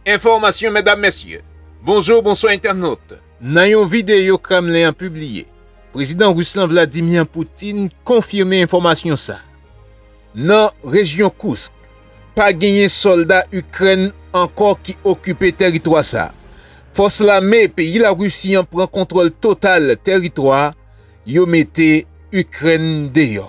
Enfòmasyon Medam Mesye, Bonjou Bonswa Entènot! Nan yon videyo Kremlen an pibliye, Prezidan Ris lan Vladimir Putin konfime enfòmasyon sa a. Nan rejyon Kursk, pa genyen sòlda Ikrèn ankò ki okipe tèritwa sa a. Fòs lame peyi Larisi an pran kontwòl total tèritwa yo mete Ikrèn deyò.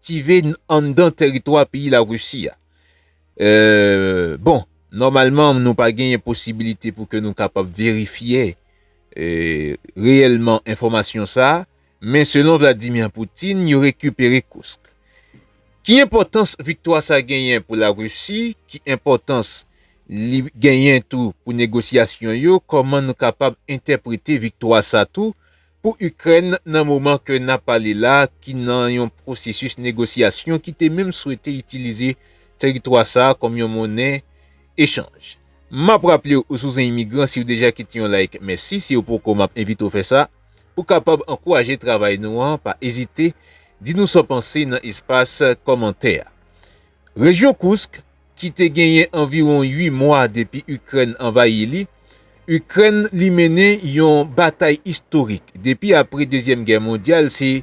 aktive anndan teritwa peyi Larisi a. Bon, nòmalman nou pa genyen posibilite pou ke nou kapab verifye reyèlman enfòmasyon sa, men selon Vladimir Putin, yo rekipere Kursk. Ki enpòtans viktwa sa genyen pou Larisi, ki enpòtans li genyen tou pou negosyasyon yo, kòman nou kapab entèprete viktwa sa tou pou Ikrèn nan moman ke nap pale la ki nan yon pwosesis negosyasyon ki te menm swete itilize teritwa sa kòm yon monnen echanj. Map raplew ou sou zen imigran siw deja kite yon like mèsi siw poko map envitew fè sa pou kapab ankouraje travay nou an pa ezite di nou sa w panse nan espas kòmantè a. Rejyon Koursk, ki te genyen anviwon 8 mwa depi Ikrèn anvayi li, Ikrèn li mennen yon batay istorik depi apre Dezyèm Gè Mondyal, se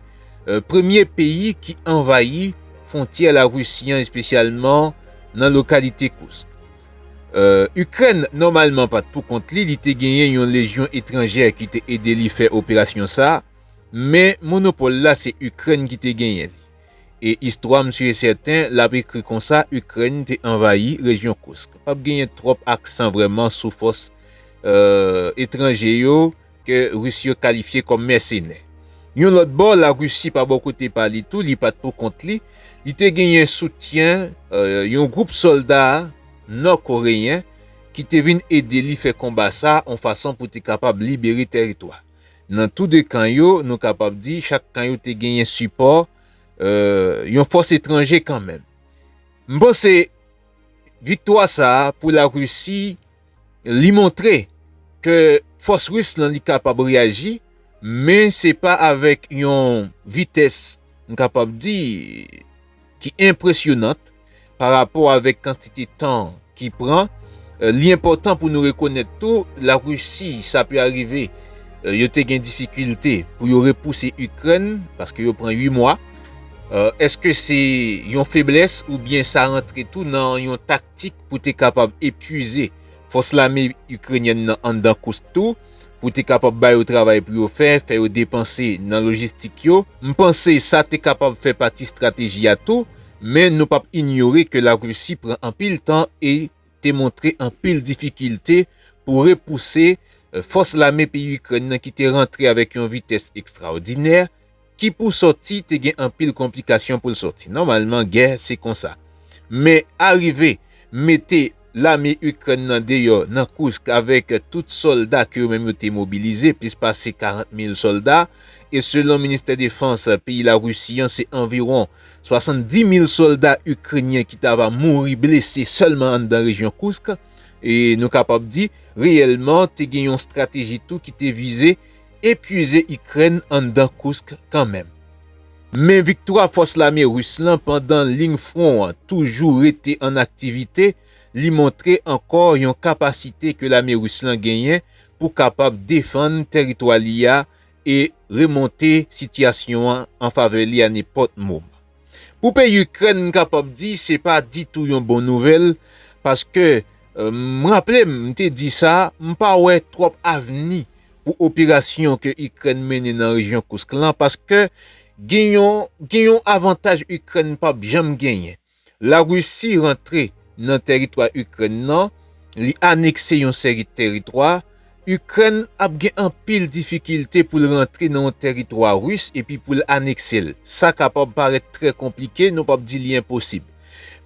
premye peyi ki anvayi fwontyè Larisi an espesyalman nan lokalite Koursk. Ikrèn nòmalman pa t pou kont li, li te genyen yon lejyon etranjè ki te ede li fè operasyon sa, men monopòl la se Ikrèn ki te genyen li. E istwa m su e sèten l ap ekri konsa Ukraine te anvayi rejyon Kursk. Pap genyen twòp aksan vrèman sou fòs etranje yo ke Ris yo kalifye kòm mèsenè. Yon lòt bò, Larisi pa bò kote pa li tou, li pat pou kont li, li te genyen soutyen yon gwoup sòlda Nò Koreyen ki te vin ede li fè konba sa on fason pou te kapab libere tèritwa. Nan tou de kan yo, nou kapab di chak kan yo te genyen sipò yon fòs etranje kanmenm. M panse viktwa sa a pou Larisi, li montre ke fòs ris lan li kapab reyaji, men se pa avèk yon vitès m kapab di, ki enpresyonant pa rapò avèk kantite tan ki pran. Li enpòtan pou nou rekonèt tou La Risi sa pi arive yo te gen difikilte pou yo repouse Ikrèn paske yo pran 8 mwa. Eske se yon feblès oubyen sa rantre tou nan yon taktik pou te kapab epwize fòs lame Ikrenyèn nan anndan Kursk tou? pou te kapab ba yo travay pou yo fè, fè yo depanse nan lojistik yo. M panse sa te kapab fè pati strateji a tou, men nou pap inyore ke Larisi pran anpil tan e te montre anpil difikilte pou repouse fòs lame peyi Ikrèn nan ki te rantre avèk yon vitès ekstraòdinè, ki pou sòti te gen anpil konplikasyon pou l sòti. Nòmalman gè se konsa. Men arive mete lame Ikrèn nan deyò nan Kursk avèk tout sòlda ke yo menm yo te mobilize, plis pase 40 mil sòlda, e selon ministè defans peyi Larisi an se anviwon 70 mil sòlda Ikrenyen ki ta va mouri blese sèlman anndan rejyon Kursk. E nou kapab di reyèlman te gen yon strateji tou ki te vize epwize Ikrèn anndan Kursk kanmenm. Men viktwa fòs lame Ris lan pandan ling fwon an toujou rete an aktivite li montre ankò yon kapasite ke lame Ris lan genyen pou kapab defann tèritwa li a e remonte sitiyasyon an anfavè li a nenpòt moman. Pou peyi Ikrèn m kapab di se pa ditou yon bon nouvèl paske m raple m m te di sa m pa wè twòp avni pou operasyon ke Ikrèn mennen nan rejyon Koursk lan paske gen yon gen yon avantaj Ikrèn pap janm genyen. La Risi rantre nan tèritwa Ikrèn nan, li anekse yon seri tèritwa, Ikrèn ap gen anpil difikilte pou l rantre nan yon tèritwa ris epi pou l anekse l. Sa kapab parèt trè konplike, nou p ap di li enposib.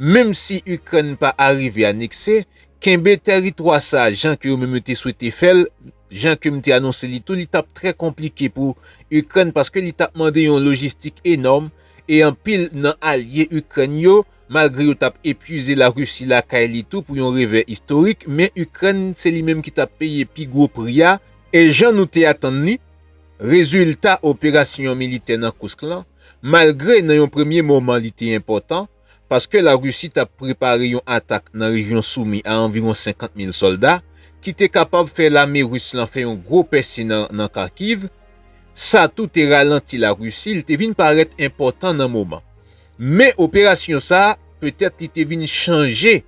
Menm si Ikrèn pa arive anekse, kenbe tèritwa sa a jan ke yo menm yo te swete fè l, jan ke m te anonse li tou, li t ap trè konplike pou Ikrèn paske li t ap mande yon lojistik enòm e anpil nan alye Ikrèn yo, Malgre yo tap epuize la Russie lakay li tou pou yon revè istorik men Ukraine se li menm ki tap peye pi gwo pri a e jan nou te atann li rezilta operasyon militè nan Kursk lan malgre nan yon premye moman li te enpòtan paske la Russie tap prepare yon atak nan rejyon Soumy a anviwon 50 mil sòlda ki te kapab fè lame Russe lan fè yon gwo pèse nan Kharkiv sa tou te ralanti la Russie li te vin parèt enpòtan nan moman Men operasyon sa, petèt li te vin chanje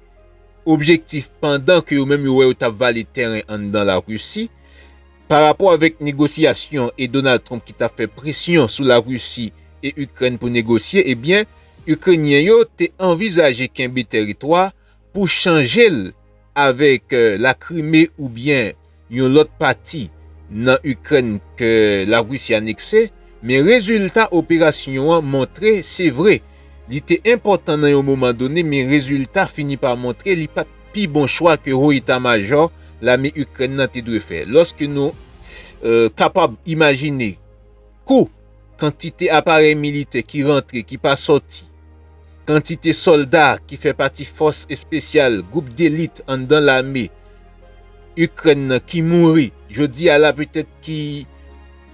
objektif pandan ke yo menm yo wè yo tap vale tèren anndan la Risi, pa rapò avèk negosyasyon e Donald Trump ki tap fè presyon sou la Risi e Ikrèn pou negosye, ebyen Ikrenyen yo te anvizaje kenbe tèritwa, pou chanje l avèk la Krime oubyen yon lòt pati nan Ikrèn ke la Risi anekse, men rezilta operasyon an montre se vre li te enpòtan nan yon moman done men rezilta fini pa montre li pat pi bon chwa ke Ho Eta Majò lame Ikrèn nan te dwe fè. Lòske nou kapab imajine. Kou, Kantite aparèy militè ki rantre ki pa sòti, Kantite sòlda ki fè pati fòs espesyal, gwoup delit anndan lame Ikrèn nan ki mouri jodi a la petèt ki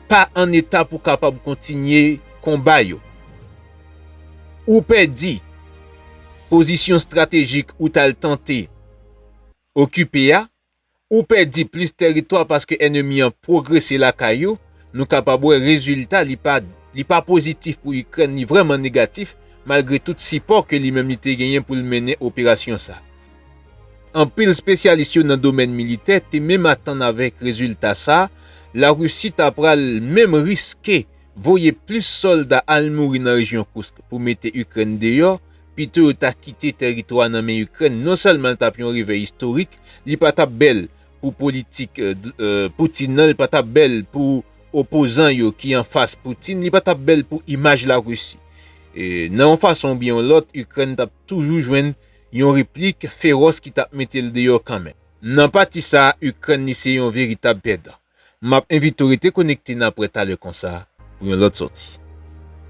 pa an eta pou kapab kontinye konba yo. Ou pèdi, Pozisyon estratejik ou t al tante okipe a Ou pèdi plis tèritwa paske ènemi an pwogrese lakay ou, nou kapab wè rezilta li pa li pa pozitif pou Ikrèn li vrèman negatif malgre tout sipò ke li menm li te genyen pou l mennen operasyon sa. Anpil spesyalis yo nan domèn militè te menm atann avèk rezilta sa La Risi ta pral menm riske voye plis sòlda al mouri nan rejyon Kursk pou mete Ikrèn deyò pito yo ta kite tèritwa nan men Ikrèn non sèlman l tap yon revè istorik li pa tap bèl pou politik Putin nan li pa tap bèl pou opozan yo ki anfas Putin li pa tap bèl pou imaj la Russie nan yon fason oubyen yon lòt Ikrèn tap toujou jwenn yon replik feròs ki tap mete l deyò kanmenm. Nan pati sa Ikrèn li se yon veritab pèdan. Map envite w rete konekte nan aprè talè konsa pou yon lòt sòti.